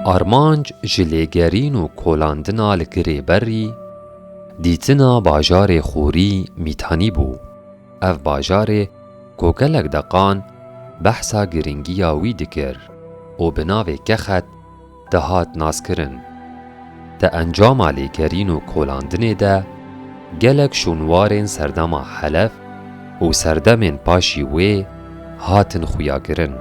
Armanc ji lêgerîn û kolandina li Girêberrî, dîtina bajarê Xorî Mîtanî bû. Ev bajarê ku gelek deqan behsa girîngiya wî dikir û bi navê Kexet dihat naskirin. Di encama lêgerîn û kolandinê de gelek şûnwarên serdema Helef û serdemên paşî wê hatin xuyakirin.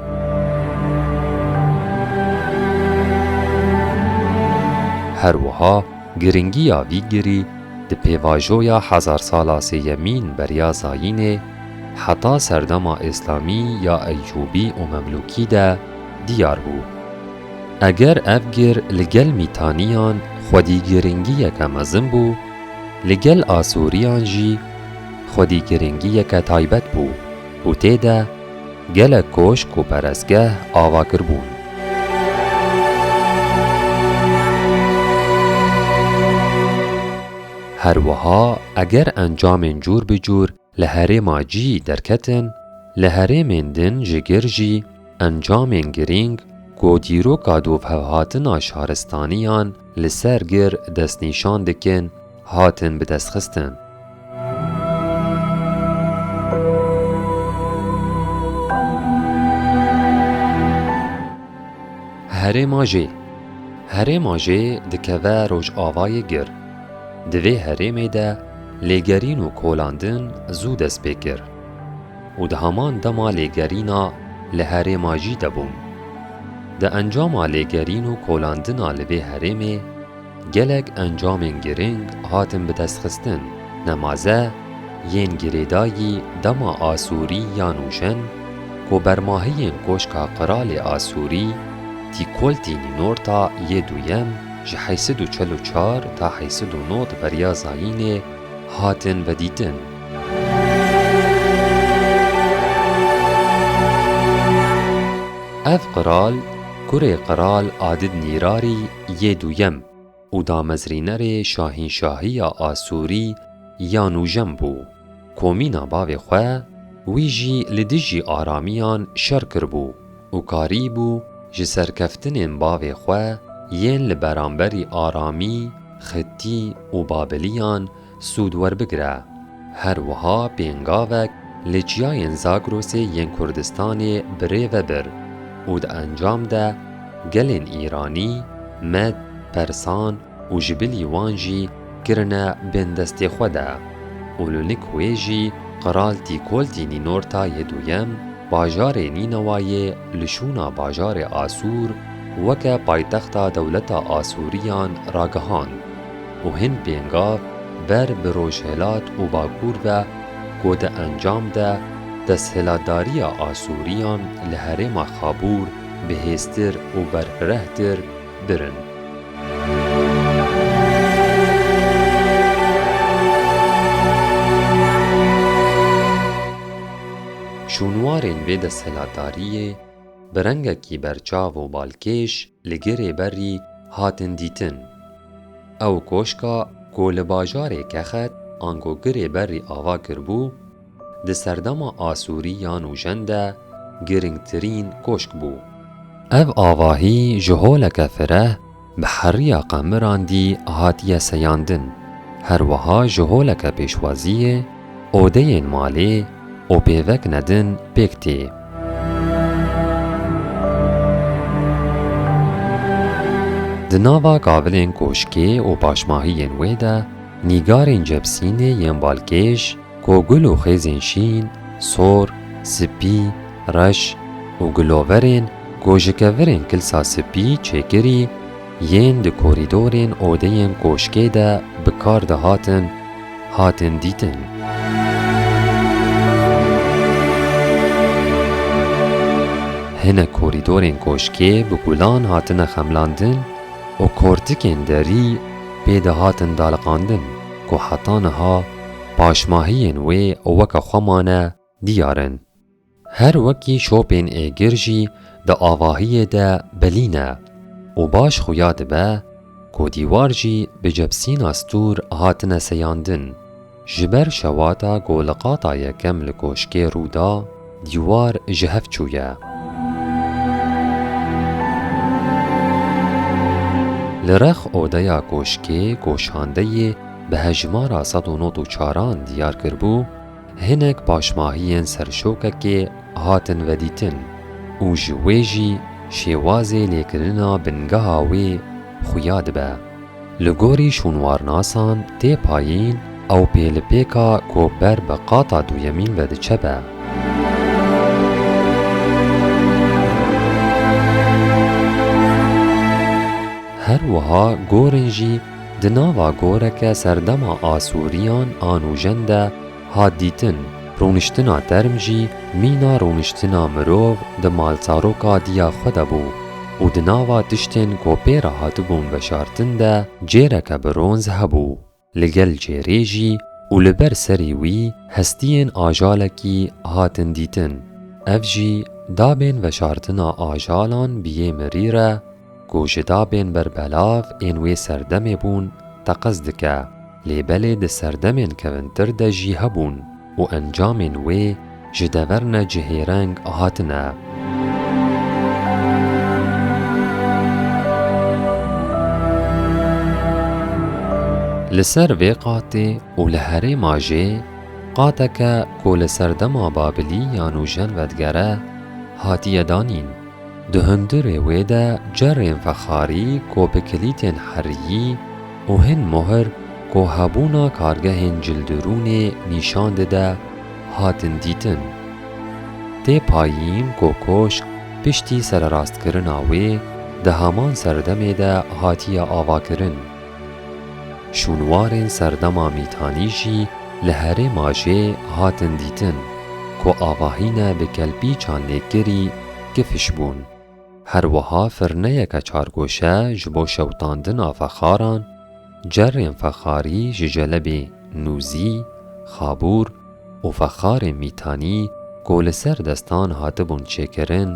Her wiha giringiya vî girî di pêvajoya hezarsala sêyemîn beriya zayînê heta serdema Îslamî ya Eyyûbî û Memlûkî de diyar bû. Eger ev gir li gel Mîtaniyan xwedî girîngiyeke mezin bû, li gel Asûriyan jî xwedî girîngiyeke taybet bû û tê de gelek koşk û perestgeh ava kiribûn. Her wiha eger encamên cûr bi cûr Li herêma cî derketin, li herêmên din ji gir jî encamên girîng ku dîroka dovhevhatina şaristaniyan li ser gir destnîşan dikin hatin bidestxistin. Herêma jê Herêma jê dikeve rojavayê gir. Di vê herêmê de lêgerîn û kolandin zû dest pê kir û di heman dema lêgerîna li herêma jî de bûm. Di encama lêgerîn û kolandina li vê herêmê gelek encamên girîng hatin bi dest xistin. Nemaze yên girêdayî dema Asûrî ya nûşen ku bermahiyên Koşka Qiralê Asûrî Tîkoltî Nînorta yê duyem, ji heyî sed û çel û çar ta heyî sed û nod beriya zayînê hatin vedîtin. Ev qral kurê qral Adid Nîrarî yê duyem û damezrînerê şahînşahiya Asûrî ya nûjem bû. Komîna bavê xwe, wî jî li dijî aramiyan şer kiribû û karîbû ji serkeftinên bavê xwe yên li beramberî aramî, xitî û babiliyan sûd werbigire. Her wiha pêngavek li çiyayên Zagrosê yên Kurdistanê bi rê ve bir û di encam de gelên îranî, med, persan, û ji bilî wan jî kirine bên destê xwe de û li nik wê jî Qiraltî Koltî Nînorta yê Duyem bajarê Nînewayê li şûna bajarê Asûr weke paytexta dewleta Asûriyan ragihand û hin pêngav ber bi rojhilat û bakûr ve ku di encam de desthilatdariya Asûriyan li herêma Xabûr bihêztir û berfirehtir dir in. Şûnwarên vê desthilatdariyê bi rengekî berçav û balkêş li girê berrî hatin dîtin. Ew koşka ku li bajarê Kexet ango girê berrî ava kiribû, Di serdema Asûrî ya nûjen de giringtirîn koşk bû. Ev avahî ji holeke fireh bi heriya qemiran dî hatiye seyandin, her wiha ji holeke pêşwaziyê odeyên malê û pêvekine din pêk tê. Di nava kavilên koşkê û paşmahiyên wê de nîgarên cebsînê yên balkêş, Ku gul û xêzên şîn, sor, spî, reş û guloverên ku ji kevirên kilsa spî çêkirî yên di korîdorên odeyên koşkê de bi kar dihatin, hatin dîtin. Hinek korîdorên koşkê bi gulan hatine xemlandin û kortikên derî pê dihatin daliqandin ku heta niha Paşmahiyên wê weke xwe mane diyar in. Her wekî şopên êgir jî di avahiyê de belî ne û baş xuya dibe ku dîwar jî bi cebsîna stûr hatine seyandin. Ji ber şewata ku li qata yekem li koşkê rû da, Dîwar ji hev çûye. Li rex odeya koşkê goşandeyê bi hejmara sed û nod û çaran diyar kiribû, hinek paşmahiyên serşokekê hatin vedîtin û ji wê jî şêwazê lêkirina bingeha wê xuya dibe. Li gorî şûnwarnasan tê payîn ew pêlipêka ku ber bi qata duyemîn ve diçe be. Her wiha gorên jî di nava goreke serdema Asûriyan a nûjen de Hat dîtin, rûniştina term jî mîna rûniştina mirov di malsaroka diya xwe de bû û di nava tiştên ku pê re hatibûn veşartin de cêreke bronz hebû, li gel cêrê jî û li ber serê wî hestiyên ajalekî hatin dîtin. Ev jî dabên veşartina ajalan bi yê mirî re, Ku ji dabên berbelav ên wê serdemê bûn teqez dike, lê belê di serdemên kevintir de jî hebûn û encamên wê ji dever ne cihêreng hatine. Li ser vê qatê û li herêma jê qateke ku li serdema Babiliyan û Jenvedgere hatiye danîn, Di hundirê wê de cerên fexarî ku bi kilîtên heriyî û hin muhir ku hebûna kargehên cildirûnê nîşan dide hatin dîtin. Tê payîn ku koşk piştî sererastkirina wê di heman serdemê de hatiye avakirin. Şûnwarên serdema mîtanî jî li herêma jê hatin dîtin ku avahîne bi kelpîçan lêkirî kifiş bûn. Her wiha firneyeke çargoşe ji bo şewitandina fexaran, cerrên fexarî ji jelebê nûzî, xabûr, û fexarên mîtanî ku li ser destan hatibûn çêkirin,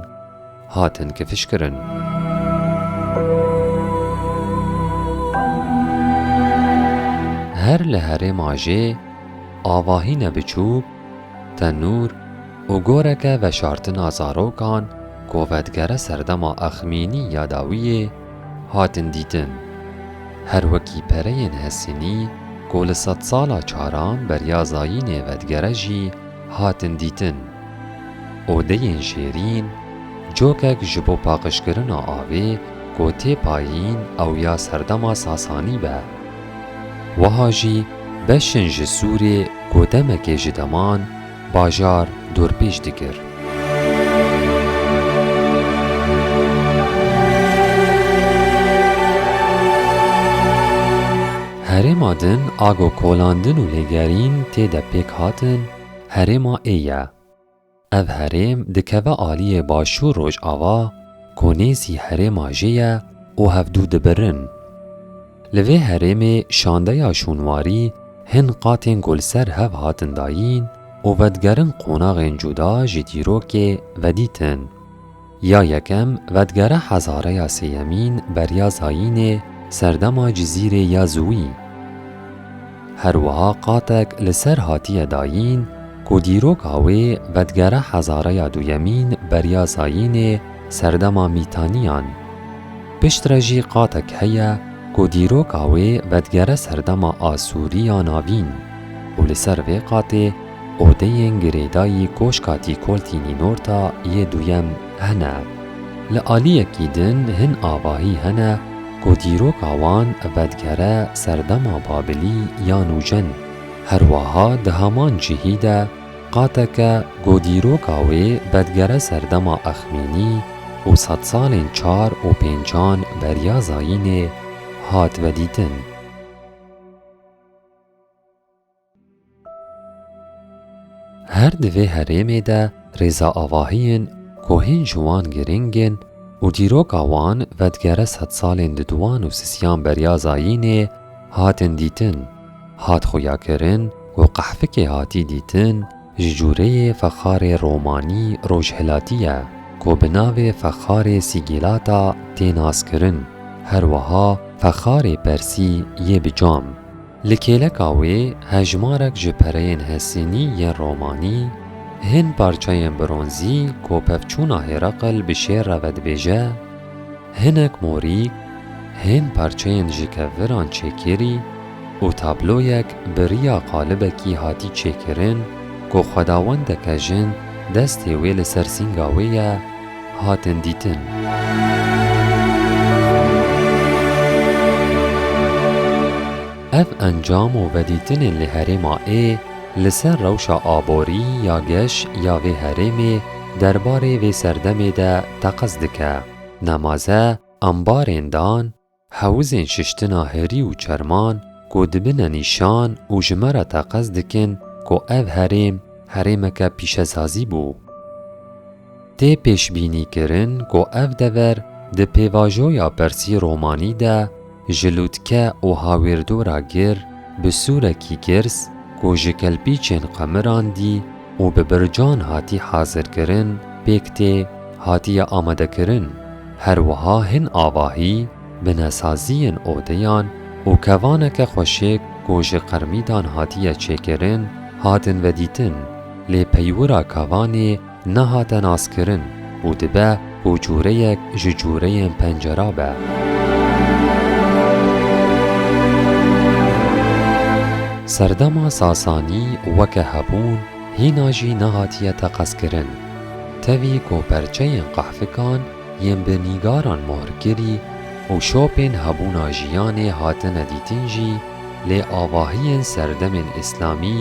hatin kifişkirin. Her li herêm ajê avahîne biçûk, tenûr û goreke veşartina zarokan ku vedigere serdema Exmînî ya dawiyê, hatin dîtin. Her wekî pereyên Hesînî ku li sedsala çaran beriya zayînê vedigere jî hatin dîtin. Odeyên şêrîn, cokek ji bo paqijkirina avê ku tê payîn ew ya serdema Sasanî be. Wiha jî beşên ji Sûrê ku demekê ji deman Bajar dorpêç dikir. Herêma din a ku kolandin û lêgerîn tê de pêk hatin Herêma ê ye. Ev herêm dikeve aliyê Başûr Rojava ku nêzî Herêma Jê ye û hevdu dibirin. Li vê herêmê şandeya şûnwarî hin qatên ku li ser hev hatin dayîn û vedigerin qonaxên cuda ji dîrokê vedît in. Ya yekem vedigere hezareya sêyemîn beriya zayînê serdema Cizîrê ya Ziwî. Her wiha qatek li ser hatiye dayîn ku dîroka wê vedigere hezareya duyemîn beriya zayînê serdema Mîtanîyan. Piştre jî qatek heye ku dîroka wê vedigere serdema Asûrî ya Navîn û li ser vê qatê odeyên girêdayî Koşka Tîkoltî Nînorta yê Duyem hene. Li aliyekî din hin avahî hene ku dîroka wan vedigere serdema Babilî ya Nûcen. Herweha di heman cihî de, Qateke ku dîroka wê vedigere ser dema exmînî û sedsalên çar û pêncan beriya zayînê hat vedîtin. Her di vê herêmê de rêza avahiyên ku hîn ji wan girîng in û dîroka wan vedigere sedsalên diduwan û sisiyan beriya zayînê hatin dîtin. Hat xuyakirin û qehfikê hatî dîtin ji cûreyê fexarê romanî rojhilatî ye ku bi navê fexarê Sîgîlata tê naskirin, her wiha fexarê persî yê bi cam. Li kêleka wê hejmarek ji pereyên hesînî yên romanî, hin parçeyên bronzî ku pevçûna Hêreqil bi şêr re vedibêje, Hinek morî, hên parçeyên ji keviran çêkirî û tabloyek bi riya qalibekî hatî çêkirin ku xwedawendeke jin destê wê li ser sînga wê ye, hatin dîtin. Ev encam û vedîtinên li herêma ê li ser rewşa aborî ya geş ya vê herêmê derbarê vê serdemê de teqez dike. Nemaze ambarên dan, hewizên şiştina herî û çerman ku dibine nîşan û ji me re teqez dikin ku ev herêm herêmeke pîşesazî bû. Tê pêşbînîkirin ku ev dever di pêvajoya persî-romanî de Ji lûtke û hawîrdora gir bi sûrekî girs ku ji kelpîçên qemiran dî û bi bircan hatî hazirkirin pêk tê hatiye amadekirin. Her wiha hin avahî binesaziyên odeyan û kevaneke xweşik ku ji qirmîdan hatiye çêkirin hatin vedîtin lê peywira kevanê Nehate naskirin û dibe ku cûreyek ji cûreyên pencera be. Serdema Sasanî weke hebûn hîna jî nehatiye teqezkirin. Tevî ku perçeyên qehfikan yên bi nîgaran mohrkirî û şopên hebûna jiyanê hatine dîtin jî lê avahiyên serdemên îslamî,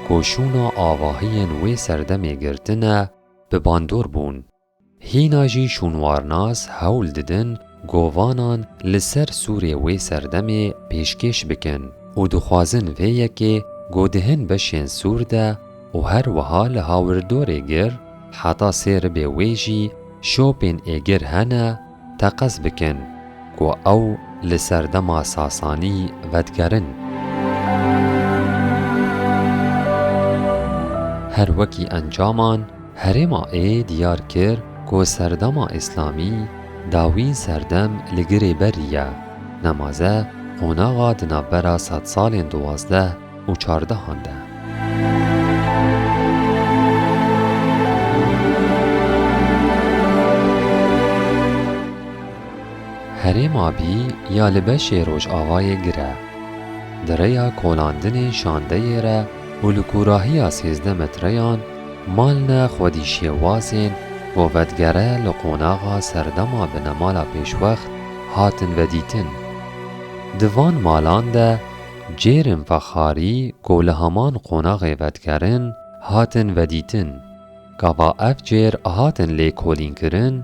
ku şûna avahiyên wê serdemê girtine, bi bandor bûn. Hîna jî şûnwarnas hewl didin govanan li ser sûrê wê serdemê pêşkêş bikin û dixwazin vê yekê ku di hin beşên sûr de û her wiha li hawirdorê gir heta sê ribê wê jî şopên êgir hene, Teqez bikin ku ew li serdema Sasanî vedigerin. Her wekî encaman, herêma ê diyar kir ku serdema îslamî dawîn serdem li girê berî ye. Nemaze qonaxa di navbera sedsalên duwazdeh û çardehan de. Herêma Bî ya li beşê Rojavayê gir e. Di rêya kolandinên şandeyê re û li kûrahiya sêzdeh metreyan malne xwedî şêwazên bo vedigere li qonaxa serdema binemala pêşwext hatin vedîtin. Di van malan de Cêrên vexarî ku li heman qonaxê vedigerin hatin vedîtin. Gava ev cêr hatin lêkolînkirin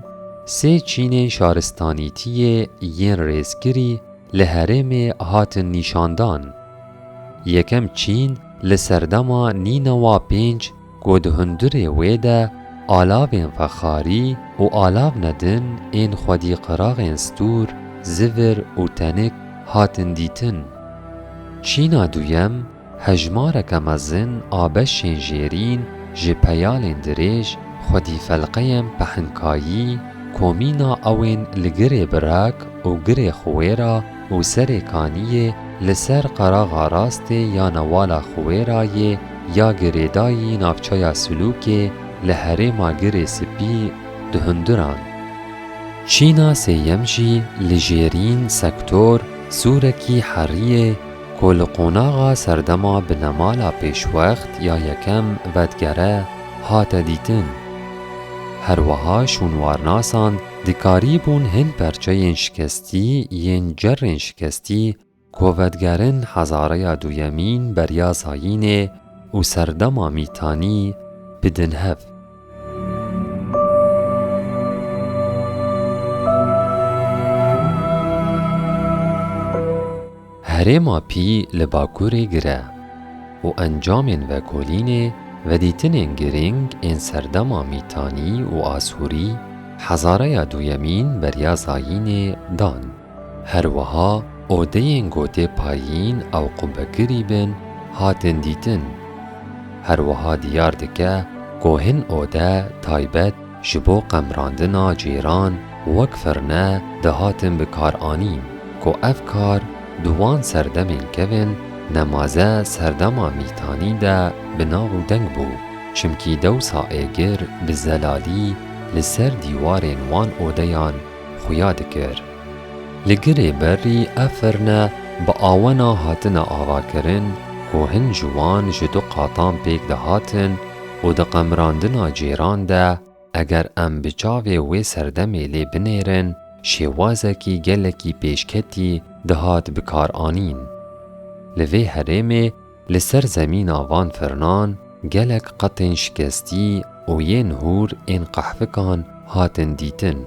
sê çînên şaristanîtiyê yên rêzkirî li herêmê hatin nîşandan. Yekem çîn li serdema nînewa pênc Ku di hundirê wê de alavên fexarî û alavne din ên xwedî qiraxên stûr, zivir û tenik hatin dîtin. Çîna duyem hejmareke mezin a beşên jêrîn ji peyalên dirêj xwedî felqeyên pehinkayî, komîna ewên li girê birak û girê xwêra, Û serê kaniyê li ser qeraxa rastê ya Newala Xuwêrayê ya girêdayî navçeya Silûkê li herêma Girê Spî di hundiran. Çîna sêyem jî li Jêrîn, Sektor, Sûrekî, Heriyê ku li qonaxa serdema binemala pêşwext ya yekem vedigere hate dîtin. Herweha şûnwarnasan Dikarîbûn hin perçeyên şikestî yên cerrên şikestî ku vedigerin hezareya duyemîn beriya zayînê û serdema mîtanî bidin hev. Herêma pî li Bakurê gire û encamên vekolînê vedîtinên girîng ên serdema Mîtanî û Asûrî hezareya duyemîn beriya zayînê dan. Herwiha odeyên gotê payîn ew qubekirî bin hatin dîtin. Herwiha diyar dike ku hin ode taybet Ji bo qemrandina cêran wek firne dihatin bikaranîn ku ev kar di wan serdemên kevin nemaze serdema mîtanî de bi nav û deng bû çimkî dewsa êgir bi zelalî li ser dîwarên wan odeyan xuya dikir. Li girê berî ev firne bi awena hatine avakirin ku hin ji wan ji du qatan pêk dihatin û di qemrandina cêran de eger em bi çavê wê serdemê lê binêrin şêwazekî gelekî pêşketî dihat bikaranîn. Li vê herêmê Li ser zemîna van firnan gelek qetên şikestî û yên hûr ên qehfikan hatin dîtin.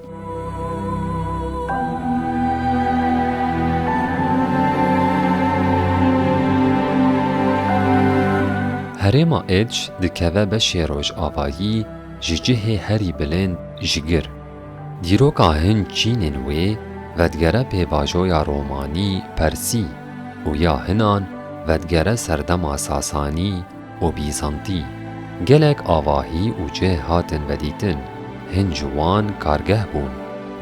Herêma Êdj dikeve beşê rojavayî ji cihê herî bilind ji gir. Dîroka hin çînên wê vedigere pêvajoya romanî persî û ya hinan vedigere serdema sasanî û bîzantî. Gelek avahî û cih hatin vedîtin, hin ji wan kargeh bûn,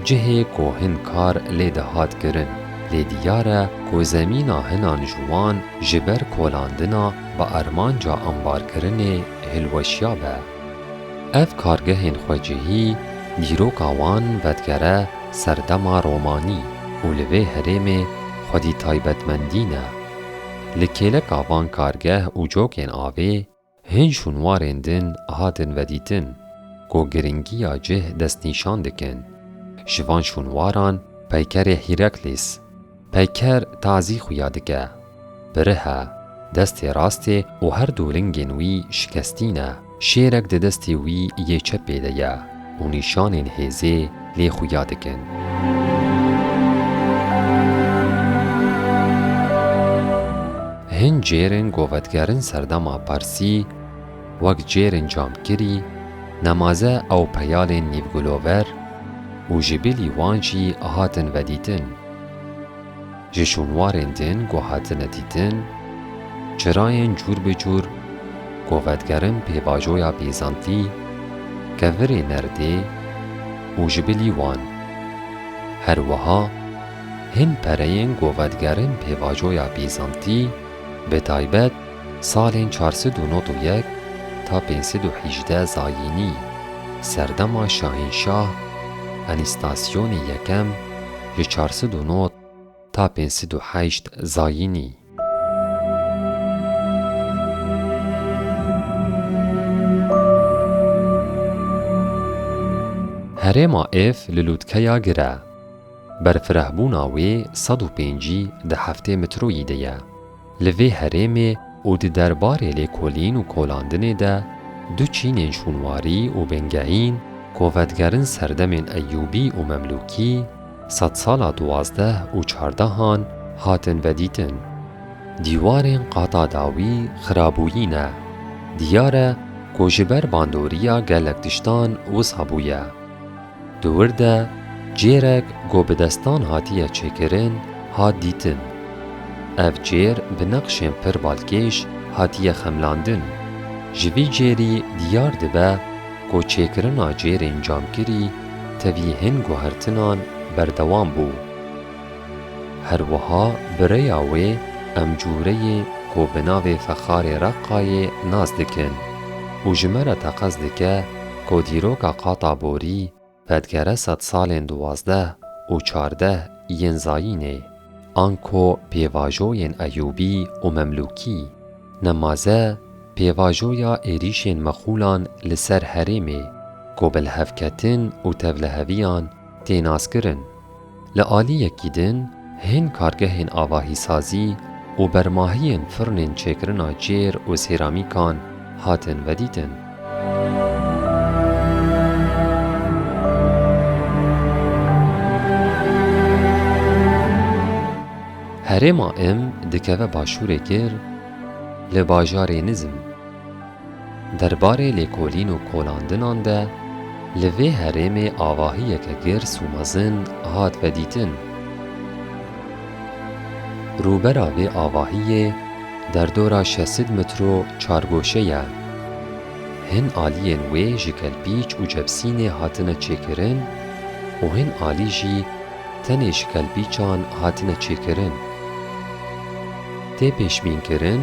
cihê ku hin kar lê dihat kirin, lê diyar e ku zemîna hinan ji wan ji ber kolandina bi armanca ambarkirinê hilweşiya be. Ev kargehên xwecihî dîroka wan vedigere ser dema romanî û li vê herêmê xwedî taybetmendî ne. Li kêleka van kargeh û cokên avê hin şûnwarên din hatin vedîtin ku giringiya cih destnîşan dikin. Ji van şûnwaran peykerê Hîraklîs, Peyker tazî xuya dike. Pirih e. Destê rast ê û her du lingên wî şikestî ne. Şêrek di destê wî yê çepê de ye û nîşanên hêzê lê xuya dikin. Hin cêrên govetgerin serdema Parsî, wek cêrên camkirî, nemaze ew peyalên nîvgulover û ji bilî wan jî hatin vedîtin. Ji şûnwarên din ku hatine dîtin, çirayên cûr bi cûr ku vedigerin pêvajoya Bîzantî, kevirê nerdê û ji bilî wan. Her wiha hin pereyên ku vedigerin pêvajoya Bîzantî bi taybet, Salên çar sed û nod û yek ta pênc sed û hîjdeh Zayînî, serdema Şahînşah Enîstasyonê Yekem ji çar sed û nod ta pênc sed û heşt Zayînî. Herêma Îf li lûtkeya gir e. Berfirehbûna wê sed û pêncî deh heftê mitroyî de ye. Li vê herêmê û di derbarê lêkolîn û kolandinê de du çînên şûnwarî û bingehîn ku vedigerin serdemên Eyyûbî û Memlûkî, sedsala duwazdeh û çardehan hatin vedîtin. Dîwarên qata dawî xirabûyî ne. Diyar e ku ji ber bandoriya gelek tiştan wisa bûye. Di wir de cêrek ku bi destan hatiye çêkirin hat dîtin. Ev cêr bi neqşên pir balkêş hatiye xemlandin. Ji vî cêrî diyar dibe ku çêkirina cêrên camkirî tevî hin guhertinan berdewam bû. Herwiha bi rêya wê em cûreyê ku bi navê Fexarê Reqqayê nas dikin û ji me re teqez dike ku dîroka qata borî pedgere sedsalên duwazdeh û çardeh yên zayînê anko pêvajoyên Eyûbî û Memlûkî, nemaze pêvajoya êrîşên mexûlan li ser herêmê ku bilhevketin û tevliheviyan tê naskirin. Li aliyekî din hên kargehên avahîsazî û bermahiyên firnên çêkirina cêr û sêramîkan hatin vedîtin. Herêma Im dikeve başûrê kir li bajarê Nizm. Derbarê lêkolîn û kolandinan de li vê herêmê avahiyeke girs û mezin hat vedîtin. Rûbera vê avahiyê derdora şesid mitro çargoşe ye. Hin aliyên wê ji kelpîç û cebsînê hatine çêkirin û hin alî jî tenê ji kelpîçan hatine çêkirin. Tê pêşbînkirin,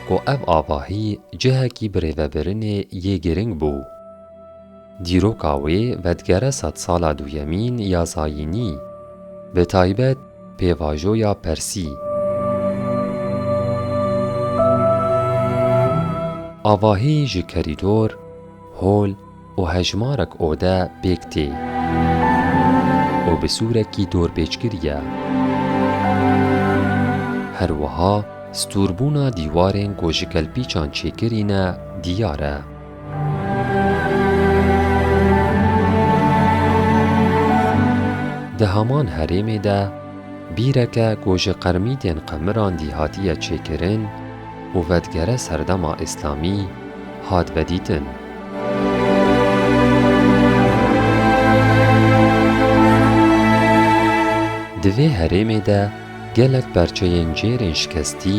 ku ev avahî cihekî birêvebirinê yê girîng bû. Dîroka wê vedigere sedsala duyemîn ya zayînî, bi taybet pêvajoya persî. Avahî ji kerîdor, hol, û hejmarek ode pêk tê û bi sûrekî dorpêçkirî ye. Her wiha stûrbûna dîwarên ku ji kelpîçan çêkirî ne dîyar e. Di heman herêmê de bîreke ku ji qermîtên qemiran dî hatiye çêkirin û vedigere serdema îslamî hat vedîtin. Di vê herêmê de gelek perçeyên cêrên şikestî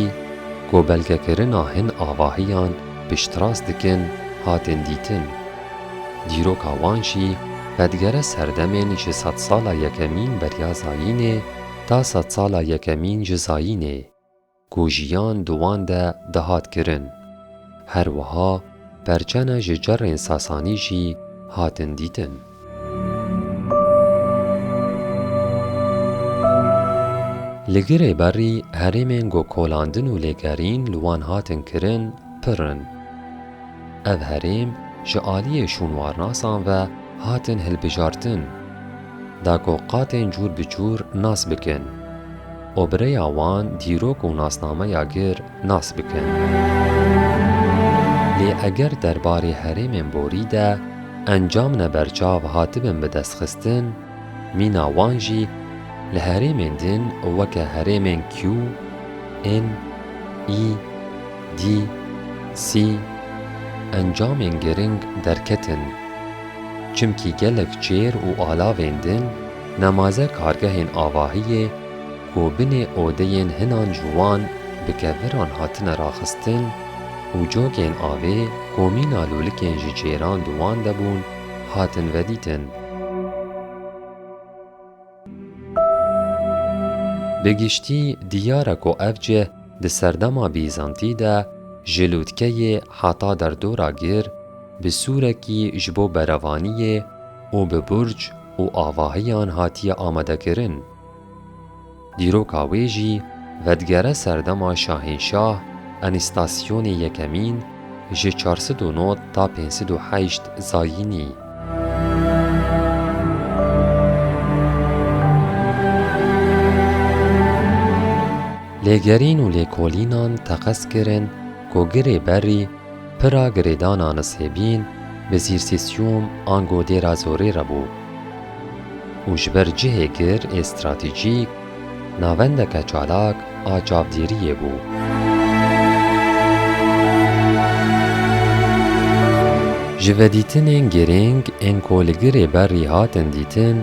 ku belgekirina hin avahiyan piştrast dikin hatin dîtin. Dîroka wan jî vedigere serdemên ji sedsala yekemîn beriya zayînê ta sedsala yekemîn ji zayînê. Ku jiyan di wan de dihat kirin. Her wiha perçene ji cerên Sasanî jî hatin dîtin. Li girê berî herêmên ku kolandin û lêgerîn li wan hatin kirin pir in. Ev herêm ji aliyê şûnwarnasan ve hatin hilbijartin, da ku qatên cûr bi cûr nas bikin. û bi rêya wan dîrok û nasnameya gir nas bikin. Lê eger derbarê herêmên borî de encam ne berçav hatibin bi destxistin, mîna wan jî li herêmên din weke herêmên Q, N, I, D, C encamên giring derketin. Çimkî gelek çêr û alavên din, Nemaze kargehên avahiyê ku binê odeyên hinan ji wan bi keviran hatine raxistin û cokên avê ku mîna lûlikên ji cêran di wan de bûn hatin vedîtin. Bi giştî diyar e ku ev cih di serdema Bîzantî de ji lûtkeyê heta derdora gir bi sûrekî ji bo berevaniyê û bi burc û avahiyan hatiye amadekirin. Dîroka wê jî vedigere serdema Şahînşah Enistasyonê Yekemîn ji çar sed û nod ta pênc sed û heşt Zayînî. Lêgerîn û lêkolînan teqez kirin ku girê berî, Pira girêdana Nisêbîn bi Zîrsîsyûm ango Dêra Zorê re bû û ji ber cihê gir ê stratejîk, navendeke çalak a çavdêriyê bû. Ji vedîtinên girîng ên ku li girê berrî hatin dîtin,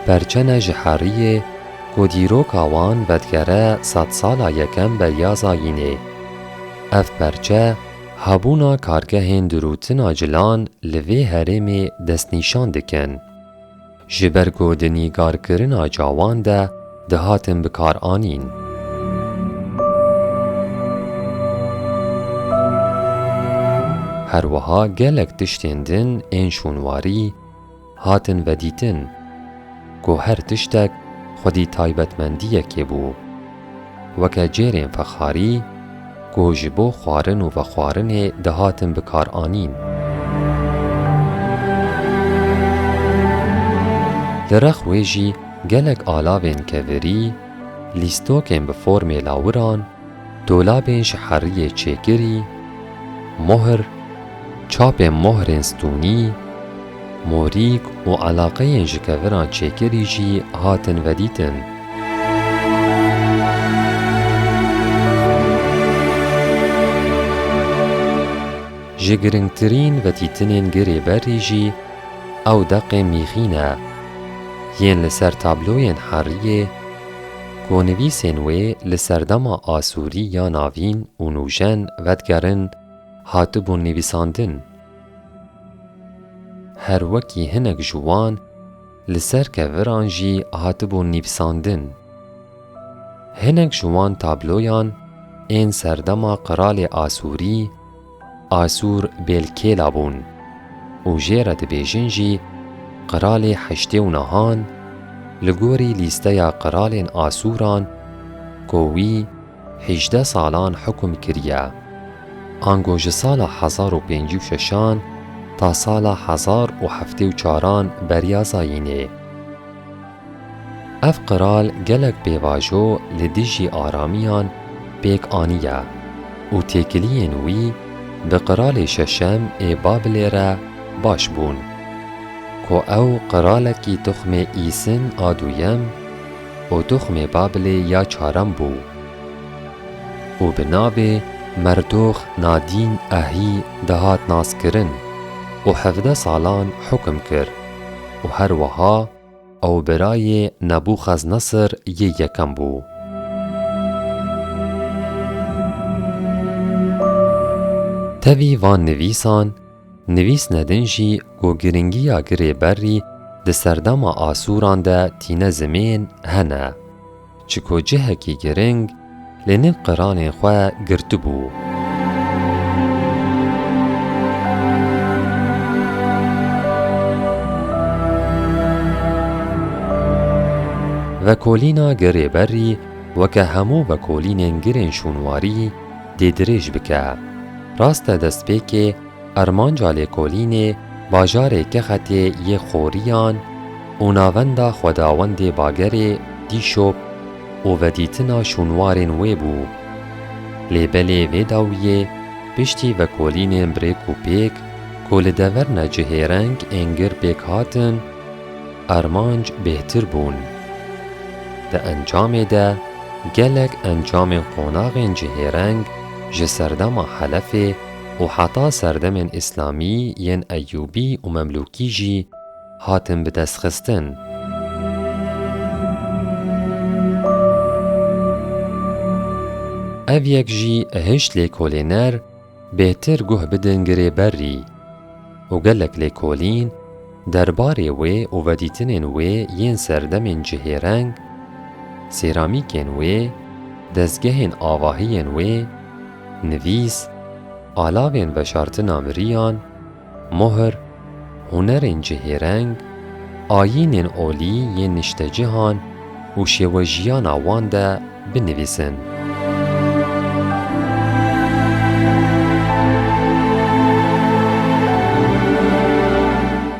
perçene ji heriyê ku dîroka wan vedigere sedsala yekem Beryaza Yînê. Ev perçe hebûna kargehên dirûtina cilan li vê herêmê destnîşan dikin. Ji ber ku di nîgarkirina cawan de dihatin bikaranîn. Her wiha gelek tiştên din ên şûnwarî, Hatin vedîtin ku her tiştek xwedî taybetmendiyekê bû. Weke cêrên fexarî ku ji bo xwarin û vexwarinê dihatin bikaranîn. Li rex wê jî gelek alavên kevirî, lîstokên bi formê lawiran, Dolabên ji heriyê çêkirî, mohr, çapên mohrên stûnî, morîk û eleqeyên ji keviran çêkirî jî hatin vedîtin. Ji giringtirîn vedîtinên girê berrî jî ew deqê mîxî ne yên li ser tabloyên heriyê, Ku nivîsên wê li serdema Asûrî ya Navîn û Nûjen vedigerin hatibûn nivîsandin. Her wekî hinek ji wan li ser keviran jî hatibûn nivîsandin. Hinek ji wan tabloyan ên serdema qiralê Asûrî, Asûr bêlkêla bûn û jê re dibêjin jî qiralê Heştê û Nahan li gorî lîsteya qiralên Asûran ku wî hîjdeh salan hukm kiriye, ango ji sala hezar û pêncî û şeşan ta sala hezar û heftê û çaran beriya zayînê. Ev qral gelek pêvajo li dijî aramiyan pêk aniye û têkiliyên wî bi qralê şeşem ê Babilê re baş bûn. Ku ew qralekî tuxmê Îsin a duyem û tuxmê Babilê ya çarem bû û bi navê Merdox Nadîn Ahî dihat naskirin û hevdeh salan hukm kir û her wiha Ew birayê Nebûxeznesr yê yekem bû. Tevî van nivîsan, nivîsne din jî ku girîngiya girê berrî di serdema Asûran de tîne zimên hene. Çiko cihekî giring li nêv qeranê xwe girtibû. Vekolîna gerê berrî weke hemû vekolînên girên şûnwarî dê dirêj bike. Rast e destpêkê Armanca lêkolînê bajarê Kexetê yê Xoriyan û navenda Xwedawendê Bagerê Dîşop û vedîtina şûnwarên wê bû. Lê belê vê dawiyê piştî vekolînên brêk û pêk ku li dever ne cihêreng ên gir pêk hatin, armanc bêhtir bûn. Di encamê de gelek encamên qonaxên cihêreng ji serdema Helefê, û heta serdemên îslamî yên Eyûbî û Memlûkî jî hatin bi dest xistin. Ev yek jî hişt lêkolêner bêtir guh bidin girê berrî. û gelek lêkolîn derbarê wê û vedîtinên wê yên serdemên cihêreng, sêramîkên wê, dezgehên avahiyên wê, nivîs, alavên veşartina miriyan, muhr, hunerên cihêreng, ayînên olî yên niştecihan û şêwejiyana wan de binivîsin.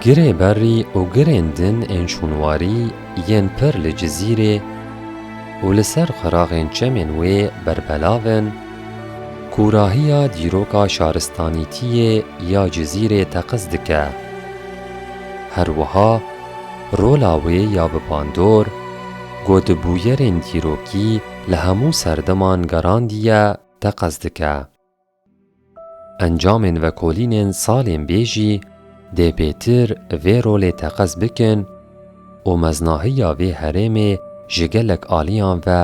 Girê berrî û girên din ên şûnwarî yên pir li Cizîrê û li ser xiraxên çemên wê berbelav in, kûrahiya dîroka şaristanîtiyê ya Cizîrê teqez dike. Her wiha, Rola wê ya bi bandor ku di bûyerên dîrokî li hemû serdeman garandiye teqez dike. Encamên vekolînên salên bê jî dê bêtir vê rolê teqez bikin û meznahiya vê herêmê ji gelek aliyan ve